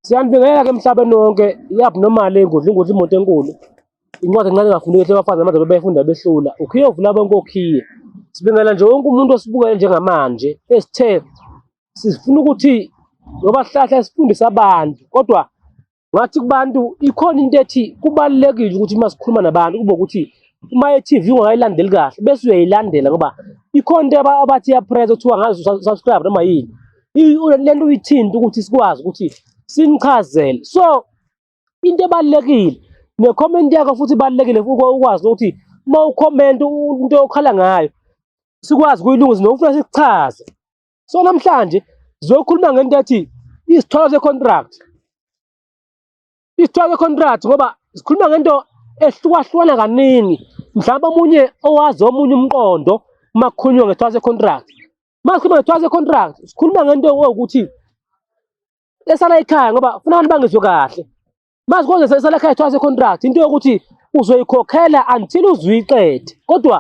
Siyanibingelela ke emhlabeni wonke i-abnormal engudla ingudla imoto enkulu incwadi encane engafuneki ehle abafazi namanje bebefunda behlula ukhiye uvula bonke okhiye sibingelela nje wonke umuntu osibukele njengamanje esithe Sifuna ukuthi ngoba sihlahla sifundisa abantu kodwa ngathi kubantu ikhona into ethi kubalulekile ukuthi uma sikhuluma nabantu kube ukuthi uma e-TV ungayilandeli kahle bese uyayilandela ngoba ikhona into abathi yapress kuthiwa ngazi subscribe noma yini le nto uyithinta ukuthi sikwazi ukuthi sinichazele so into ebalulekile ne-comment yakho futhi ibalulekile ukwazi ukuthi uma ukhomenta into okhala ngayo sikwazi kuyilungisa nokufuna sikuchaze so namhlanje sizokhuluma ngento ethi isithwalo se-contract isithwalo se-contract ngoba sikhuluma ngento ehlukahlukana kaningi mhlawumbe omunye owazi omunye umqondo uma kukhulunywa ngesithwalo se-contract uma sikhuluma ngesithwalo se-contract sikhuluma ngento ewukuthi esala ekhaya ngoba funa abantu bangizwe kahle Manje konje seselakhaya twice contract into yokuthi uzoyikhokhela until uzuyiqede. Kodwa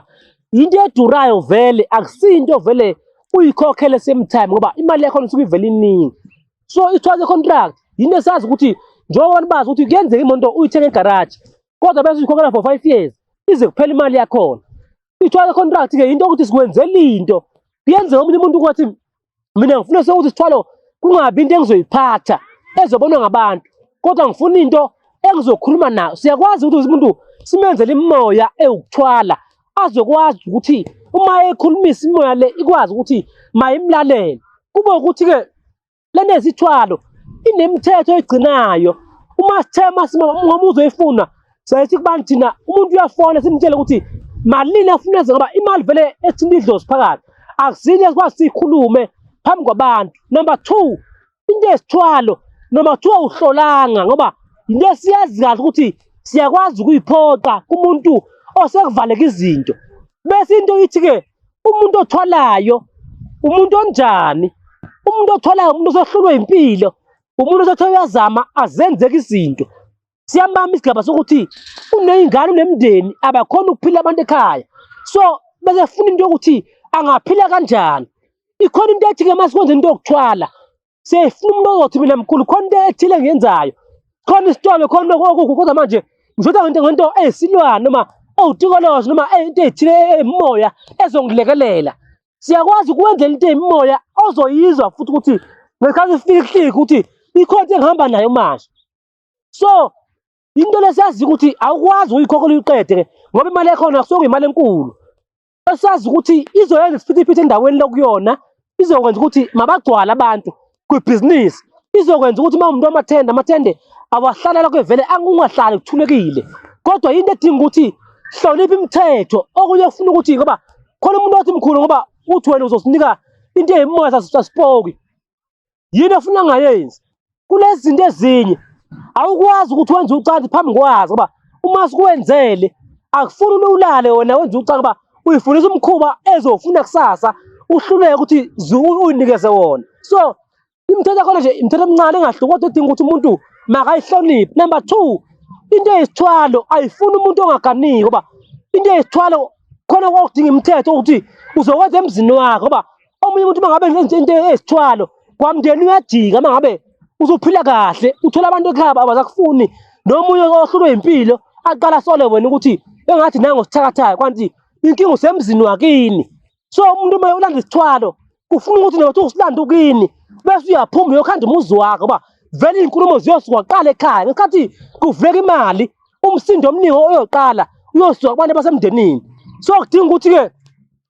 into edurayo vele akusinto vele uyikhokhele same time ngoba imali yakho isuke ivele iningi. So i-twice contract yinto esazi ukuthi njengoba abantu bazi ukuthi kuyenzeka imoto uyithenge egaraji kodwa bese uyikhokhela for five years ize kuphela imali yakhona. I-twice contract-ke yinto yokuthi sikwenzela into. Kuyenzeka omunye umuntu kwathi mina ngifuna sokuthi sithwalo kungabi into engizoyiphatha ezobonwa ngabantu kodwa ngifuna into engizokhuluma nayo siyakwazi ukuthi umuntu simenzele imimoya ewukuthwala azokwazi ukuthi uma ekhulumisa imoya le ikwazi ukuthi mayimlalele kube ukuthi-ke lento ezithwalo inemithetho egcinayo uma sithema ngoba uzoyifuna Siyaye sikubani thina umuntu uyafona simtshele ukuthi malini afuna enze ngoba imali vele ethina idlozi phakathi. Akusinye sikwazi siyikhulume phambi kwabantu. Number two, into esithwalo noma kuthiwa uhlolanga ngoba yinto esiyazi kahle ukuthi siyakwazi ukuyiphoqa kumuntu osekuvaleka izinto. Bese into ithi-ke umuntu othwalayo umuntu onjani? Umuntu othwalayo umuntu osehlulwe impilo, umuntu osethe uyazama azenzeke izinto. siyabamba isigaba sokuthi uney'ngane unemndeni abakhona ukuphila abantu ekhaya so bese funa into yokuthi angaphila kanjani ikhona into ethi-ke uma sikwenza into yokuthwala sefuna umuntu ozothi mina mkhulu khona into ethile engiyenzayo khona isitolo khona okuku kodwa manje ngishoda ngento ngento eyisilwane noma ewutikolozi noma into eyithile emoya ezongilekelela siyakwazi ukwenzela into eyimoya ozoyizwa futhi ukuthi ngesikhathi ifika ihlika ukuthi ikhonto engihamba nayo manje so into lesiyazi ukuthi awukwazi uyikhokhola uyiqede ke ngoba imali yakhona kusuke imali enkulu esiyazi ukuthi izoyenza isiphithiphithi endaweni lokuyona izokwenza ukuthi mabagcwala abantu kwibhizinisi izokwenza ukuthi uma umuntu amathende amathende awahlala lokho evele angungahlali kuthulekile kodwa yinto edinga ukuthi hlonipha imithetho okunye kufuna ukuthi ngoba khona umuntu othi mkhulu ngoba uthi wena uzosinika into eyimoya sasipoki yini afuna ngayenzi kulezi zinto ezinye awukwazi ukuthi wenze ucansi phambi kwazo ngoba uma sikuwenzele akufuni ulale wena wenze ucansi ngoba uyifundisa umkhuba ezofuna kusasa uhluleke ukuthi uyinikeze wona so imithetho yakhona nje imithetho emincane engahluki kodwa edinga ukuthi umuntu makayihloniphe number two into eyisithwalo ayifuni umuntu ongaganiki ngoba into eyisithwalo khona kwakudinga imithetho ukuthi uzokwenza emzini wakhe ngoba omunye umuntu mangabe ngenze into ezithwalo kwamndeni uyajika mangabe uzophila kahle uthola abantu ekhaba abazakufuni nomunye ohlulwe impilo aqala sole wena ukuthi engathi nango sithakathayo kwanti inkinga usemzini wakini so umuntu uma ulanda isithwalo kufuna ukuthi nawe usilande ukini bese uyaphuma uyokhanda umuzi wakho uba vele iy'nkulumo ziyosuka kuqala ekhaya ngesikhathi kuvuleka imali umsindo omningi oyoqala uyosuka kubantu basemndenini so kudinga ukuthi-ke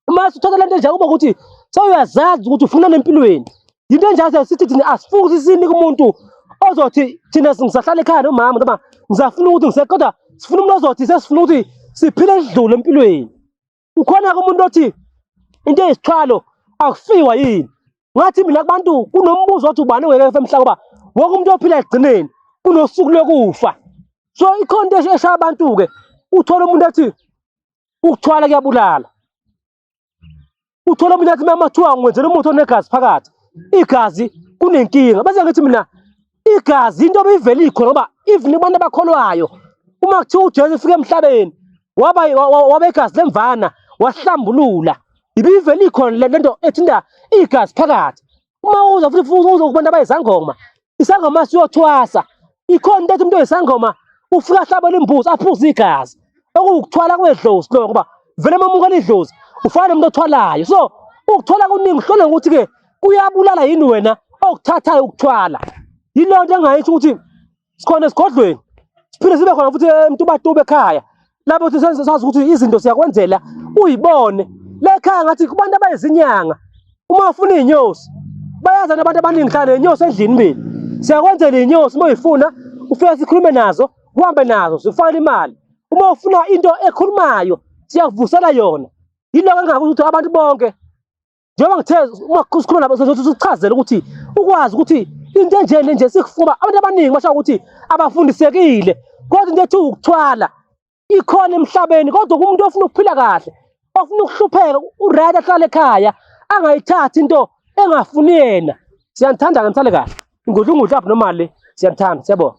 uma usuthatha lento enje kuba ukuthi sewuyazazi ukuthi ufuna nempilweni yinto enjalo sithi thina asifuki ukuthi sinike umuntu ozothi thina ngisahlala ekhaya nomama noma ngisafuna ukuthi ngise kodwa sifuna umuntu ozothi sesifuna ukuthi siphile sidlule empilweni ukhona-ke umuntu othi into eyisithwalo akufiwa yini ngathi mina kubantu kunombuzo othi ubani ongeke efe emhlaba ngoba wonke umuntu ophila ekugcineni kunosuku lokufa so ikhona into eshaya abantu-ke uthole umuntu athi Ukuthwala kuyabulala. Uthola umuntu athi mama thiwa ngwenzela umuthi onegazi phakathi. Igazi kunenkinga. Bese ngithi mina igazi into obivele ikhona ngoba even abantu abakholwayo uma kuthiwa uJesu ufike emhlabeni waba waba igazi lemvana wahlambulula. Ibivele ikhona le nto ethinta igazi phakathi. Uma uza futhi uzokubantu abayizangoma isangoma siyothwasa ikhona into ethi umuntu oyisangoma ufike ahlabele imbuzi aphuze igazi okuwukuthwala kwedlozi lokho ngoba vele uma umukela idlozi ufana nomuntu othwalayo so ukuthwala kuningi uhlole ngokuthi-ke kuyabulala yini wena okuthathayo ukuthwala yiloo nto engayisho ukuthi sikhona esigodlweni siphinde sibe khona futhi emtubatube ekhaya lapho sisenze sazi ukuthi izinto siyakwenzela uyibone lekhaya ngathi kubantu abayizinyanga uma ufuna iy'nyosi bayaza nabantu abaningi hlala ney'nyosi endlini mbili siyakwenzela iy'nyosi uma uyifuna ufika sikhulume nazo kuhambe nazo zifakele imali uma ufuna into ekhulumayo siyakuvusela yona yiloko engakuthi abantu bonke njengoba ngithe uma sikhuluma nabo sozothi sichazele ukuthi ukwazi ukuthi into enje le nje sikufuba abantu abaningi basho ukuthi abafundisekile kodwa into ethi ukuthwala ikhona emhlabeni kodwa kumuntu ofuna ukuphila kahle ofuna ukuhlupheka uright ahlale ekhaya angayithathi into engafuni yena siyanithanda ke nithale kahle ingudla ungudla apha nomali siyanithanda siyabona